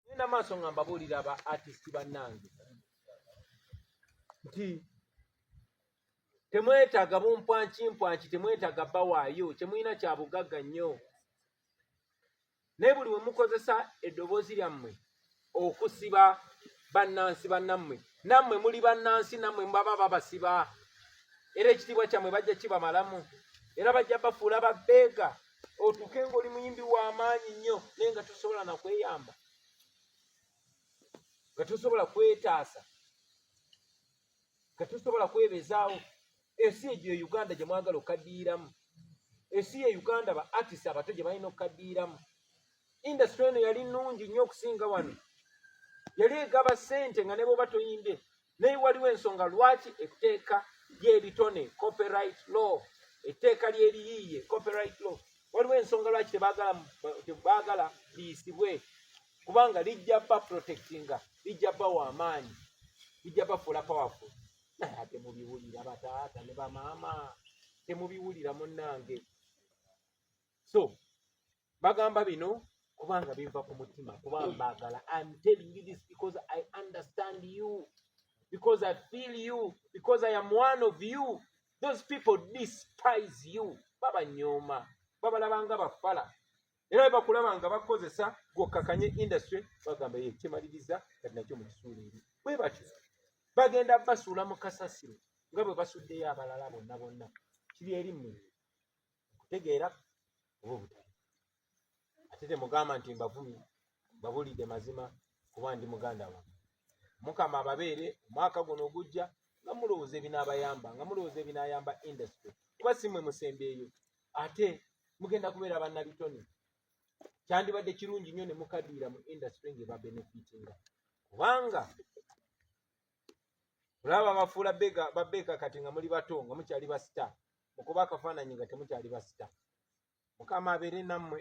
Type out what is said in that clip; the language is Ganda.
ngenda maaso nga mbabuulira ba artist bannange nti temwetaaga bumpwankimpwanki temwetaaga bawaayo kyemulina kya bugagga nnyo naye buli we mukozesa eddoboozi lyammwe okusiba bannansi bannammwe nammwe muli bannansi nammwe baba babasiba era ekitiibwa kyammwe bajja kibamalamu era bajja bafuula babeega otuuke ng'oli muyimbi w'amaanyi nnyo naye nga tosobola na kweyamba nga tosobola kwetaasa nga tosobola kwebezaawo ensi egyo e uganda gye mwagala okukaddiiramu ensi ye uganda ba artist abato gye balina okukaddiiramu indasitule eno yali nnungi nnyo okusinga wano yali egaba ssente nga ne bwoba toyimbye naye waliwo ensonga lwaki etteeka ly'ebitone copyright law etteeka ly'ebiyiiye copyright law waliwo ensonga lwaki tebaagala liyisibwe kubanga lijja ba protectinga lijja bawa amaanyi lijja bafuula powerful naye ate mubiwulira bataata ne bamaama temubiwulira munnange so bagamba bino kubanga biva ku mutima kuba mbagala im telling you this because i understand you because i feel you because i am one of you those people despise you babanyooma babalabanga bafala era webakulaba nga bakozesa gwokakanye industry bagamba ye kyemaliriza kati nakyo mukisuula eri bwe batyo bagenda basuula mu kasasiro nga bwe basuddeyo abalala bonna bonna kiri eri mmwe okutegeera oba obutali ate temugamba nti mbavumi babulidde mazima kuba ndi muganda wa mukama ababeere omwaka guno ogujja nga mulowooza ebinaabayamba nga mulowooza ebinaayamba industry kuba si mwe musembeeyo ate mugenda kubeera bannabitone kyandibadde kirungi nnyo ne mukadiira mu industry ng'ebabenefitinga kubanga olaba bafuula babeeka kati nga muli bato nga mukyali basita mukuba akafaananyi nga temukyali basita mukama abeere nammwe